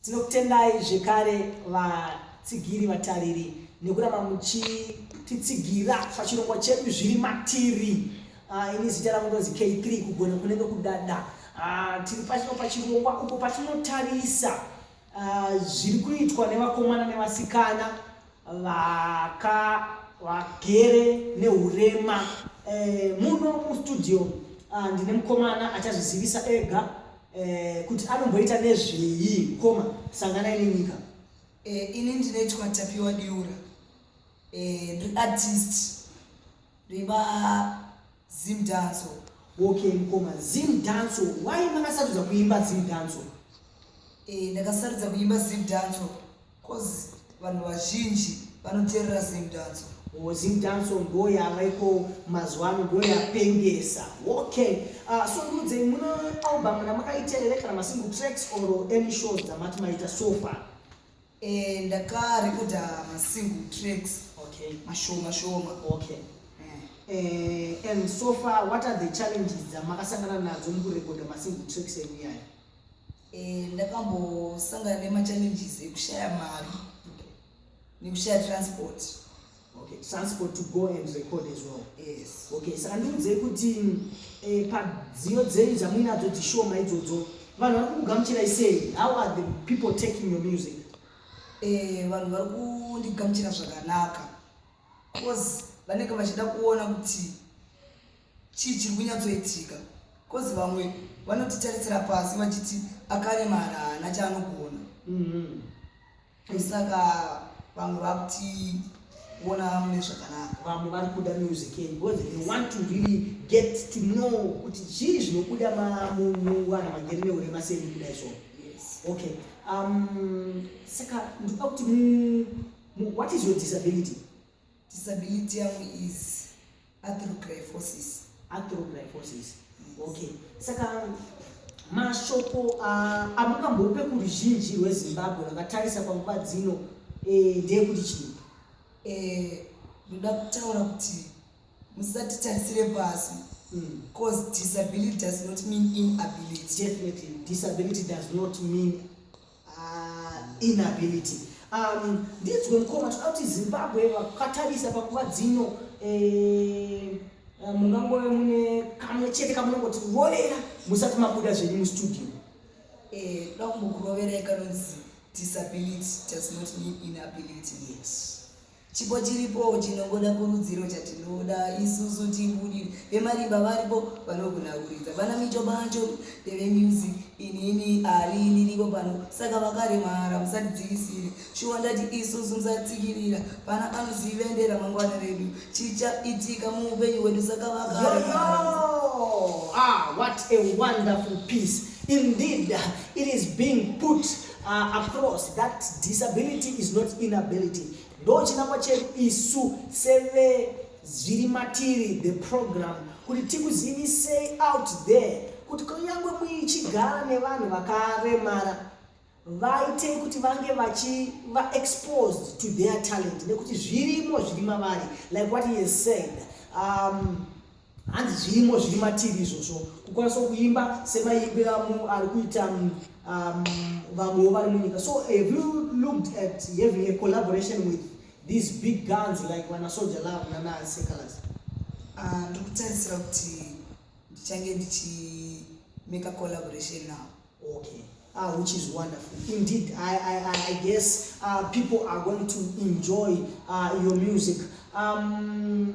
Tinokutendai zvekare vatsigiri vatariri nekuramba muchititsigira pachirongwa chedu zviri matiri. Ah, ini zita rangu ndonzi K3 kugona kunenge kudada. Ah, tiri pachino pachirongwa uko patinotarisa ah, zviri kuitwa nevakomana nevasikana vaka vagere neurema eh, muno mustudio ah, ndine mukomana achazvizivisa ega eh, kuti anomboita nezveyi mukoma sanganai nenyika eh, ini ndinoitwa tapiwa diura eh, ndiartist riva Zim danso. Okay mkoma, Zim danso. Why makasarudza kuimba Zim danso? Eh, ndakasarudza kuimba Zim danso cause vanhu vazhinji vanoteerera Zim danso. Oh, Zim danso ndo yava iko mazuva ano ndo yapengesa. Okay. Uh, so ndudze mune album ramakaita here kana masingle tracks or any shows dzamati maita so far? Eh, ndakarekoda masingle tracks okay. mashoma shoma okay. Eh, eh, and so far what are the challenges dzamakasangana nadzo mukurekoda masingle tracks enyu yayo eh, ndakambosangana nemachallenges ekushaya mari nekushaya transport Okay, transport to go and record as well. Yes. Okay, saka ndiudzei kuti eh, padziyo dzenyu dzamuinadzo dzishoma idzodzo vanhu vari kukugamuchirai sei? How are the people taking your music? Eh, vanhu vari kundigamuchira zvakanaka bcause vanenge vachida kuona kuti chii chiri kunyatsoitika bcause vamwe vanotitarisira pasi vachiti akaremara haana chaanogona mm -hmm. Saka vamwe vakuti kuona mune zvakanaka vamwe vari kuda music yenyu because they want to really get to know kuti chii zvinobuda muvanhu vangeri neurema seni kuda izvo okay um, saka ndikuda kuti what is your disability disability yangu is Atherogryphosis. Atherogryphosis. Yes. Okay. Saka mashoko uh, amukambope kuruzhinji rwezimbabwe vakatarisa panguva dzino eh, ndeyekuti chii eh, ndoda eh, kutaura kuti musatitarisire pasi hmm. cause disability does not mean inability definitely disability does not mean Ah, inability. Um, ndinzwe mukoma toda kuti Zimbabwe vakatarisa pakuva dzino eh, eh, mungangove mune kamwe chete kamunongoti rovera musati mabuda zvenyu mustudio. Eh, toda kumbokuroverai kanonzi disability does not mean inability. Yes. Chipo chiripo chinongoda kurudziro chatinoda isusu tibudire vemarimba varipo vanogona kuridza vana micho bacho ndevemusic inini ari ndiriko pano saka vakaremara musatidzivisire shuwa ndati isusu musatsikirira pana anozive nderamangwana redu chichaitika muupenyu hwedu saka vakaremara ah, what a wonderful piece indeed it is being put Uh, across that disability is not inability ndochinangwa chedu isu seve zviri matiri the program kuti tikuzivisei out there kuti kunyange muichigara nevanhu vakaremara vaite kuti vange vachi va exposed to their talent nekuti zvirimo zviri mavari like what he has said um, hanzi zvirimo zviri matiri izvozvo kukwanisa kuimba semaimbira munhu ari kuita mm, um, vamwewo vari munyika so have you looked at having a collaboration with these big guns like vanasoja love nanasecalas ah, ndiri kutarisira kuti ndichange ndichimeka collaboration now okay uh, which is wonderful. Indeed, I, I, I guess uh, people are going to enjoy uh, your music. Um,